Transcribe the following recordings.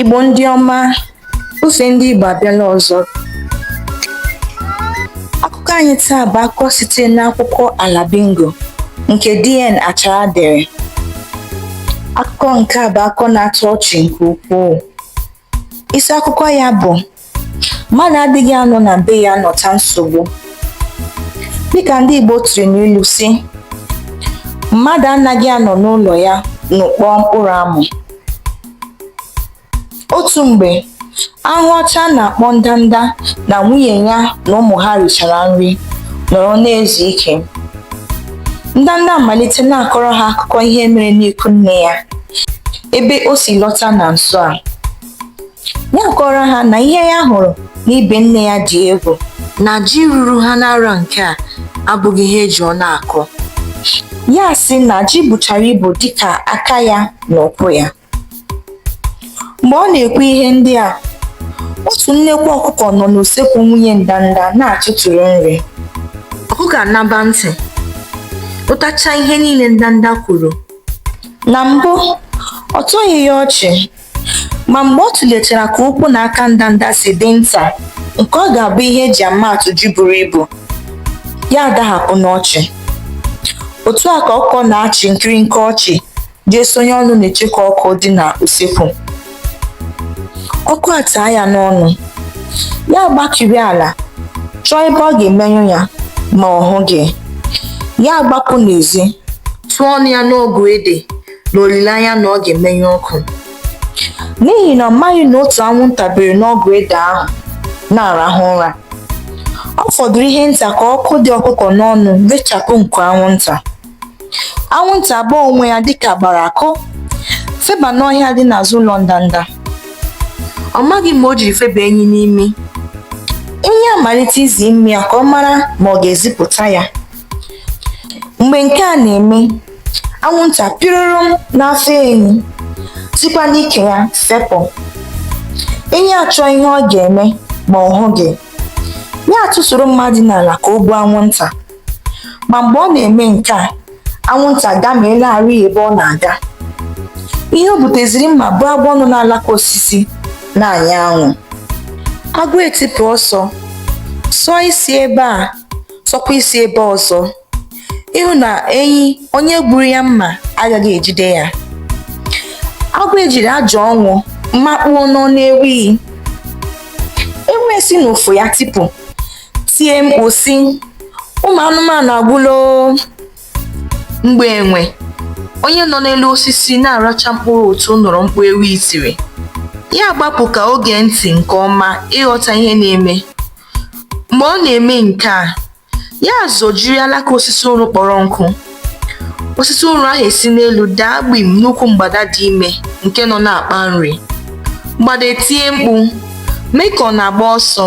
Igbo ndị ọma, ofe ndị Igbo abịala ọzọ. Akụkọ anyị taa bụ akụkọ site n'akwụkwọ Ala Bingo nke DN Achara dere. Akụkọ nke a bụ akụkọ na-atọ ọchị nke ukwuu. Isi akụkọ ya bụ mmadụ adịghị anọ na be ya anọta nsogbu dịka ndị Igbo tiri n'ilu sị mmadụ anaghị anọ n'ụlọ ya nọkpọọ mkpụrụ amụ otu mgbe ahụhụ ọcha a na-akpọ ndanda na nwunye ya na ụmụ ha richara nri nọrọ na-ezu ike ndanda amalite na-akọrọ ha akụkọ ihe mere n'ikwu nne ya ebe o si lọta na nso a ya akọọrọ ha na ihe ya hụrụ n'ibe nne ya dị egwu na ji ruru ha n'arọ nke a abụghị ihe eji ọnụ akọ ya asị na ji buchara ibu dịka aka ya na ụkwụ ya mgbe ọ na-ekwu ihe ndị a otu nnekwu ọkụkọ nọ n'usekwu nwunye ndanda na-atụtụrụ nri ọkụkọ aṅaba ntị nụtacha ihe niile ndanda kwuru na mbụ ọ tọghị ya ọchị ma mgbe ọ tụlechara ka ụkwụ na aka ndanda si dị nta nke ọ ga-abụ ihe eji ama atụ ji buru ibu ya adahapụ n'ọchị otu a ka ọkụkọ na-achị nkiri nke ọchị jee sonye ọnụ n'icheku ọkụ dị na usekwu ọkụ ataa ya n'ọnụ ya agbakiri ala chọọ ebe ọ ga-emenyụ ya ma ọ hụghị ya agbapụ n'ezi tụọ ọnụ ya n'ọgụ ede n'olileanya na ọ ga-emenyụ ọkụ n'ihi na ọ maghị na otu anwụnta bere n'ọgụ ede ahụ na-arahụ ụra ọ fọdụrụ ihe nta ka ọkụ dị ọkụkọ n'ọnụ rechapụ nku anwụnta anwụnta agbaa onwe ya dịka a gbara akụ feba n'ọhịa dị n'azụ ụlọ ndanda ọ maghị ma o jiri feba enyi n'imi enyi amalite izi imi ya ka ọ mara ma ọ ga-ezipụta ya mgbe nke a na-eme anwụnta pịrụrụm n'afọ enyi sikwa n'ike ya fepụ enyi achọọ ihe ọ ga-eme ma ọ hụghị ya atụsoro mma dị n'ala ka o gbuo anwụnta ma mgbe ọ na-eme nke a anwụnta agameelarị ebe ọ na-aga ihe o gbuteziri mma bụ agwọ nọ n'alaka osisi na-anya anwụ agwọ etipụ ọsọ sọọ isi ebe a sọkwa isi ebe ọzọ ịhụ na enyi onye gburu ya mma agaghị ejide ya agwọ ejiri ụjọ ọnwụ makpuo n'ọnụ ewi ewi esi n'ufu ya tipụ tie mkpu sị ụmụ anụmanụ agwụla mgbe enwe onye nọ n'elu osisi na-aracha mkpụrụ utu nụrụ mkpu ewi tiri ya gbapụ ka o gee ntị nke ọma ịghọta ihe na-eme mgbe ọ na-eme nke a ya zọjiri alaka osisi ụrụ kpọrọ nkụ osisi ụrụ ahụ esi n'elu daa gbim n'ukwu mgbada dị ime nke nọ na-akpa nri mgbada etie mkpu mee ka ọ na-agba ọsọ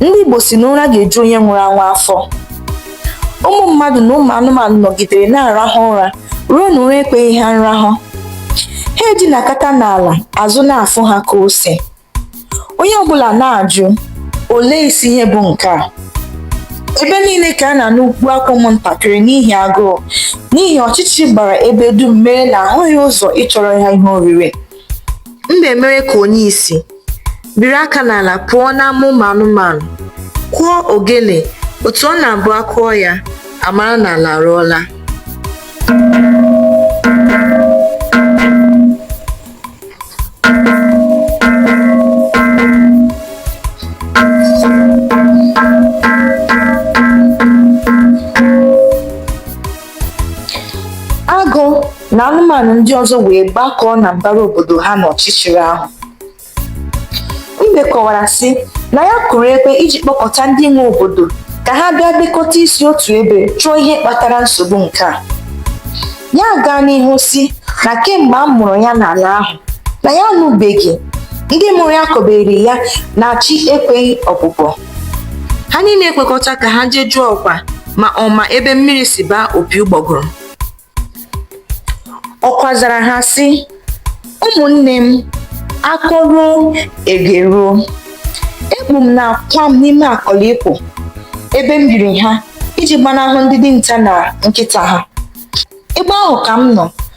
ndị Igbo sị na ụra ga-eju onye nwụrụ anwụ afọ ụmụ mmadụ na ụmụ anụmanụ nọgidere na-arahụ ụra ruo na ụra ekweghị ha nrahụ ha edinakata n'ala azụ na-afụ ha ka ose onye ọbụla na-ajụ olee isi ihe bụ nke a ebe niile ka a na-anụ mkpu akwa ụmụntakịrị n'ihi agụụ n'ihi ọchịchịrị gbara ebe dum mere na ahụghị ụzọ ịchọrọ ya ihe oriri mbe mere ka onye isi biri aka n'ala pụọ n'ama ụmụ anụmanụ kụọ ogele otu ọ na-abụ a kụọ ya a mara na ala arụọla agụ na anụmanụ ndị ọzọ wee gbakọọ na mbara obodo ha n'ọchịchịrị ahụ mbe kọwara sị na ya kụrụ ekwe iji kpọkọta ndị nwe obodo ka ha bịa dekọta isi otu ebe chọọ ihe kpatara nsogbu nke a ya gaa n'ihu sị na kemgbe a mụrụ ya n'ala ahụ na ya anụbeghị ndị mụrụ ya kọbere ya na chi ekweghị ọbụbọ ha niile ekwekọta ka ha jee jụọ ọkwa ma ọ ma ebe mmiri si baa opi ụgbọgụrụ ọkwa zara ha sị ụmụnne m a kọruo e geruo ekpu m na akwa m n'ime akọlikpo ebe m biri ha iji gbanahụ ndị dinta na nkịta ha ebe ahụ ka m nọ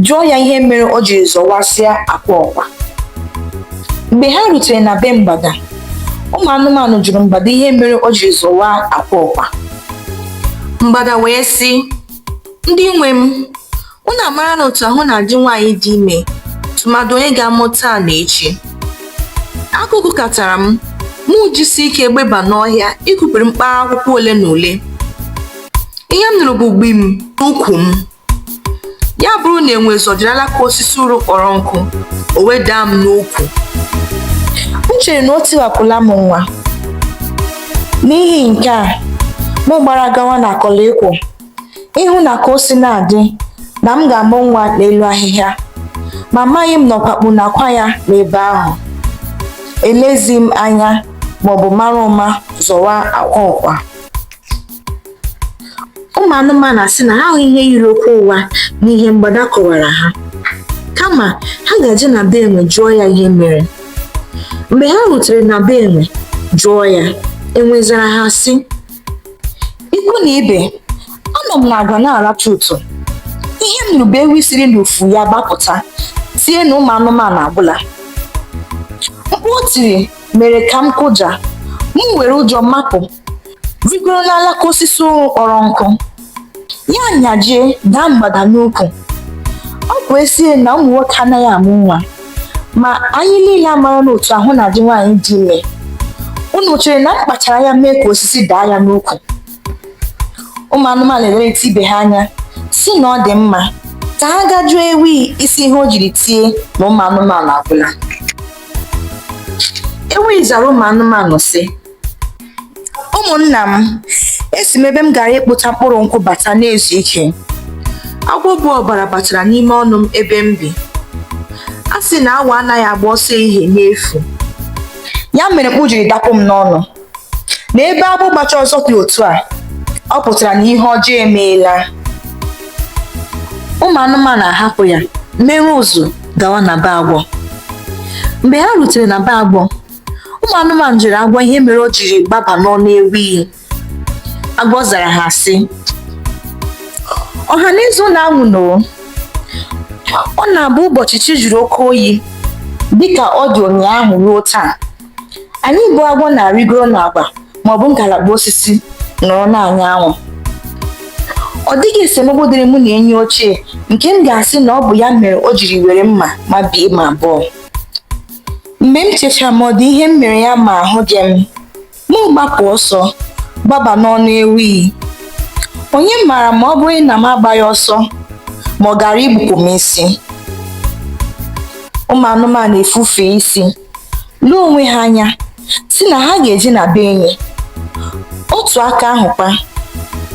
jụọ ya ihe mere o jiri zọwasịa akwa ọkwa mgbe ha rutere na be mgbada ụmụ anụmanụ jụrụ mgbada ihe mere o jiri zọwa akwa ọkwa mgbada wee sị ndị nwe m unu amara na otu ahụ na-adị nwaanyị dị ime tụmadụ onye ga-amụ taa na echi agụụ gụkatara m mụ jisi ike gbeba n'ọhịa ikupere mkpara akwụkwọ ole na ole ihe m nụrụ bụ gbim n'ukwu m ya bụrụ na enwe zọjiri alaka osisi uru kpọrọ nkụ o wee daa m n'ukwu m chere na o tiwapụla m nwa n'ihi nke a m gbara gawa n'akọlịkwụ ịhụ na ka o si na-adị na m ga-amụ nwa n'elu ahịhịa ma amaghị m na ọkwa kpu n'akwa ya n'ebe ahụ elezi m anya maọbụ mara ụma zọwa akwa ọkwa ụmụ anụmanụ asị na ha ahụghị ihe yiri okwu ụgha n'ihe mgbada kọwara ha kama ha ga-eje na be enwe jụọ ya ihe mere mgbe ha rutere na be enwe jụọ ya enwe zara ha sị ikwu na ibe anọ m n'agwa na-aracha ụtụ ihe m nụrụ bụ ewi siri n'ufu ya gbapụta tie na ụmụ anụmanụ agwụla mkpu o tiri mere ka m kụja m were ụjọ mapụ rigoro n'alaka osisi ụrụ kpọrọ nkụ ya nyajie daa mgbada n'ukwu ọ bụ ezie na ụmụ nwoke anaghị amụ nwa ma anyị niile amara na otu ahụ na-adị nwaanyị dị ime unu chere na m kpachara anya mee ka osisi daa ya n'ukwu ụmụ anụmanụ elerịta ibe ha anya sị na ọ dị mma ka ha gaa jụọ ewi isi ihe o jiri tie na ụmụ anụmanụ agwụla ewi zara ụmụ anụmanụ sị ụmụnna m esi m ebe m gara ịkpụta mkpụrụ nkwụ bata na-ezu ike agwọ bu ọbara batara n'ime ọnụ m ebe m bi a sị na awọ anaghị agba ọsọ ehihie n'efu ya mere mkpu jiri dapụ m n'ọnụ na ebe agwọ gbacha ọsọ dị otu a ọ pụtara na ihe ọjọọ emeela ụmụ anụmanụ ahapụ ya mere ụzụ gawa na be agwọ mgbe ha rutere na be agwọ ụmụ anụmanụ jụrụ agwọ ihe mere o jiri gbaba n'ọnụ ewi agwọ zara ha sị ọha na eze unu anwụna ọ na-abụ ụbọchị chi jụrụ oke oyi dịka ọ dị ụnyaahụ ruo taa anyị bụ agwọ na-arịgoro n'agwa maọbụ ngalaba osisi nọrọ na-anya anwụ ọ dịghị esemokwu dịrị mụ na enyi ochie nke m ga-asị na ọ bụ ya mere o jiri were mma mabie m abụọ mgbe m chechara ma ọ dị ihe m mere ya ma ahụghị m m gbapụ ọsọ gbaba n'ọnụ ewi onye maara ma ọ bụrụ na m agbaghị ọsọ ma ọ gara igbupụ m isi ụmụ anụmanụ efufe isi lee onwe ha anya sị na ha ga-eje na be enyi otu aka ahụkwa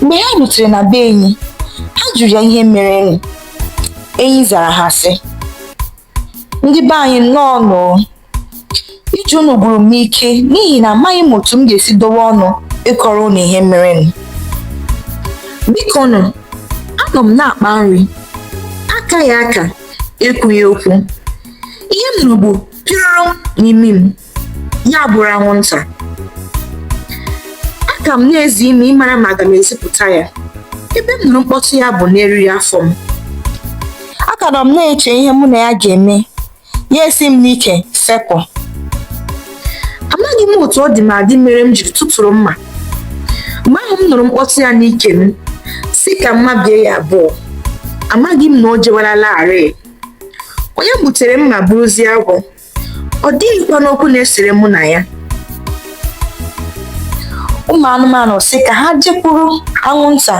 mgbe ha rutere na be enyi ha jụrụ ya ihe merenụ enyi zara ha sị ndị be anyị nnọọ nụ ije unu gwụrụ m ike n'ihi na amaghị m otu m ga-esi dowe ọnụ ịkọrọ unu ihe mere m biko nụ anọ m na-akpa nri akaghị aka ekwughị okwu ihe m nụrụ bụ pịrọrọm n'imi m ya bụrụ anwụnta aka m na-ezi imi ịmara ma aga m ezipụta ya ebe m nụrụ mkpọtụ ya bụ n'eriri afọ m aka nọ m na-eche ihe mụ na ya ga-eme ya esi m n'ike fepụ amaghị m otu ọ dị m adị mere m jiri tụtụrụ mma mgbe ahụ m nụrụ mkpọtụ ya n'ike m sị ka m mabie ya abụọ amaghị m na o jewalarị onye butere mma bụrụzie agwọ ọ dịghịkwanụ okwu na-esere mụ na ya ụmụ anụmanụ sị ka ha jekwuru anwụnta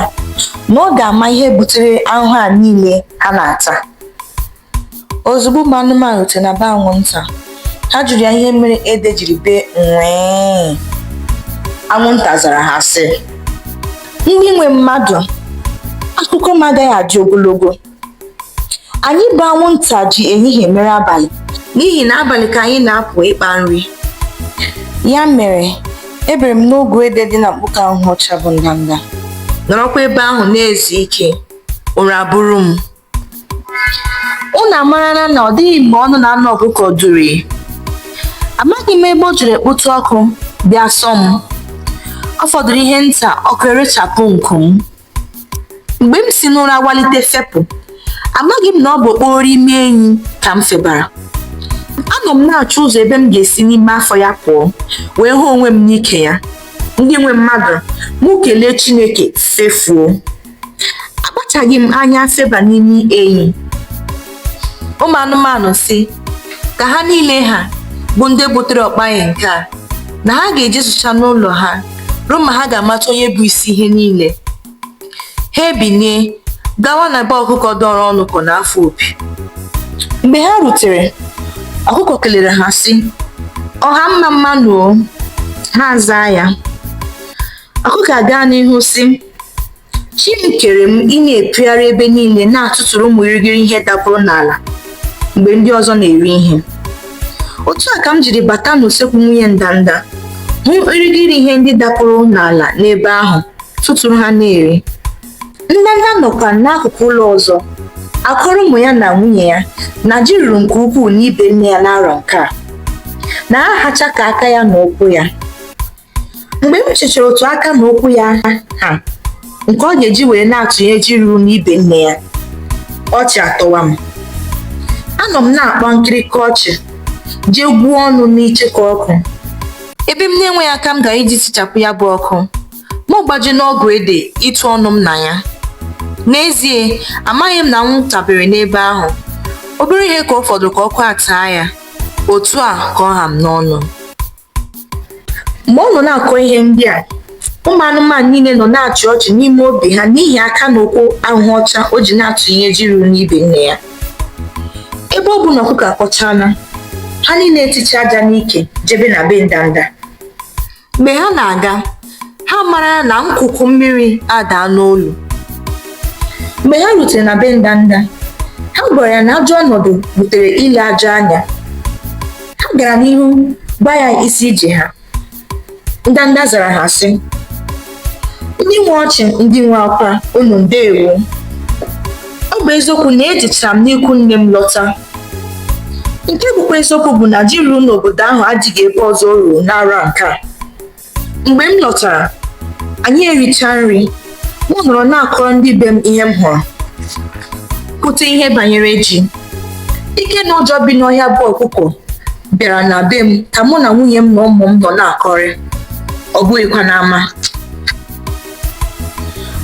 na ọ ga-ama ihe butere ahụhụ a niile ha na-ata ozugbo ụmụ anụmanụ rutere na be anwụnta ha jụrụ ya ihe mere ede jiri bee nwee anwụnta zara ha sị ndị nwe mmadụ akụkọ m agaghị adị ogologo anyị bụ anwụnta ji ehihie mere abalị n'ihi na abalị ka anyị na-apụ ịkpa nri ya mere ebere m n'ogwe ede dị na mkpuke ahụhụ ọcha bụ ndanda nọrọkwa ebe ahụ na-ezu ike ụra buru m unu amarala na ọ dịghị mgbe ọnụ na-anọ ọkụkọ duru amaghị m ebe o jiri kpụtụ ọkụ bịa sọ m ọ fọdụrụ ihe nta ọkụ erechapụ nku m mgbe m si n'ụra walite fepụ amaghị m na ọ bụ okporo imi enyi ka m febara anọ m na-achọ ụzọ ebe m ga-esi n'ime afọ ya pụọ wee hụ onwe m n'ike ya ndị nwe mmadụ mụ kelee Chineke fefuo akpachaghị m anya feba n'ime enyi ụmụ anụmanụ sị ka ha niile ha bụ ndị butere ọkpaghị nke a na ha ga-ejezucha n'ụlọ ha ruo ma ha ga-amata onye bụ isi ihe niile ha ebinie gawa na be ọkụkọ dọrọ ọnụ ka ọ na-afụ opi mgbe ha rutere ọkụkọ kelere ha sị ọha mma mma nụ o ha zaa ya ọkụkọ agaa n'ihu sị Chi m kere m ị na-epiogharị ebe niile na-atụtụrụ ụmụ irighiri ihe dapụrụ n'ala mgbe ndị ọzọ na-eri ihe. Otu a ka m jiri bata n'usekwu nwunye ndanda hụ irighiri ihe ndị dapụrụ n'ala n'ebe ahụ tụtụrụ ha na-eri. Ndanda nọkwa n'akụkụ ụlọ ọzọ akọrọ ụmụ ya na nwunye ya na ji ruru nke ukwuu n'ibe nne ya n'arọ nke a na ha hacha ka aka ya na ụkwụ ya. mgbe m chechara otu aka na ụkwụ ya ha nke ọ ga-eji were na-atụnye ji ruru n'ibe nne ya ọchị atọwa m anọ m na-akpa nkịrịka ọchị jee gwuo ọnụ n'icheku ọkụ ebe m na-enweghị aka m gara iji tichapụ ya bụ ọkụ mụ gbaje n'ọgụ ede ịtụ ọnụ m na ya n'ezie amaghị m na anwụnta bere n'ebe ahụ obere ihe ka ọ fọdụrụ ka ọkụ ataa ya otu a ka ọ ha m n'ọnụ mgbe ọ nọ na-akọ ihe ndị a ụmụ anụmanụ niile nọ na-achị ọchị n'ime obi ha n'ihi aka na ụkwụ ahụhụ ọcha o ji na-atụnye ji ruru n'ibe nne ya ebe ọ bụ na ọkụkọ akọchaala ha niile eticha aja n'ike jebe na be ndanda mgbe ha na-aga ha mara na nkuku mmiri adaa n'olu mgbe ha rutere na be ndanda ha gwara ya na ajọ ọnọdụ butere ile ajọ anya ha gara n'ihu gwa ya isi ije ha ndanda zara ha sị ndị nwe ọchị ndị nwe akwa unu ndewo ọ bụ eziokwu na ejechara m n'ikwu nne m lọta nke bụkwa eziokwu bụ na ji ruru n'obodo ahụ adịghị ebe ọzọ o ruru n'arọ nke a mgbe m lọtara anyị ericha nri m nọrọ na-akọrọ ndị be m ihe m hụrụ kwute ihe banyere ji ike na ụjọ bi n'ọhịa bụ ọkụkọ bịara na be m ka mụ na nwunye m na ụmụ m nọ na-akọrị ọ bụghịkwa n'ama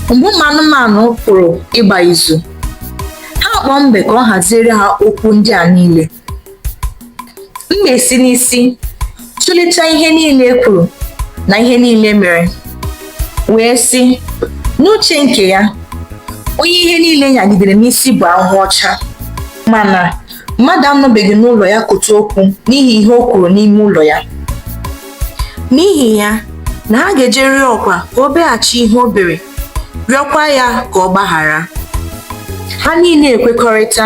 mgbe ụmụ anụmanụ pụrụ ịgba izu ha kpọọ mbe ka ọ haziere ha okwu ndị a niile mbe esi n'isi tụlechaa ihe niile e kwuru na ihe niile mere wee sị n'uche nke ya onye ihe niile nyagidere n'isi bụ ahụhụ ọcha mana mmadụ anọbeghị n'ụlọ ya kota okwu n'ihi ihe o kwuru n'ime ụlọ ya n'ihi ya na ha ga-eje rịọ ọkwa ka o beghachi ihe o bere rịọkwa ya ka ọ gbaghara ha niile ekwekọrịta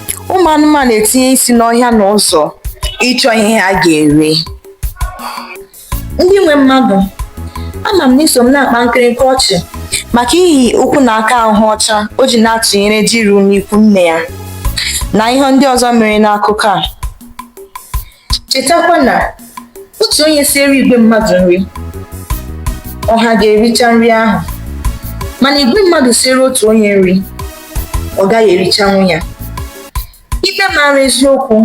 ụmụ anụmanụ etinye isi n'ọhịa na ụzọ ịchọ ihe ha ga-eri ndị nwe mmadụ ama m na i so m na-akpa nkịrịnka ọchị maka ihi ụkwụ na aka ahụhụ ọcha o ji na-atụnyere ji ruru n'ikwu nne ya na ihe ndị ọzọ mere n'akụkọ a chetakwa na otu onye siere igwe mmadụ nri ọha ga-ericha nri ahụ mana igwe mmadụ siere otu onye nri ọ gaghị erichanwu ya ikpe mara eziokwu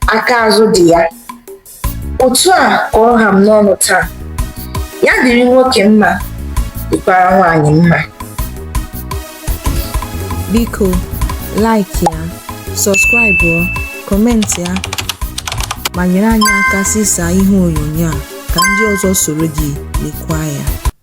aka azụ dị ya otu a ka ọ ha m n'ọnụ taa ya dịrị nwoke mma dịkwara nwaanyị mma Biko, like ya, sọskraịbụ, kọmentị ya, ma nyere anyị aka zisaa ihe onyonyo a ka ndị ọzọ soro gị lekwaa ya.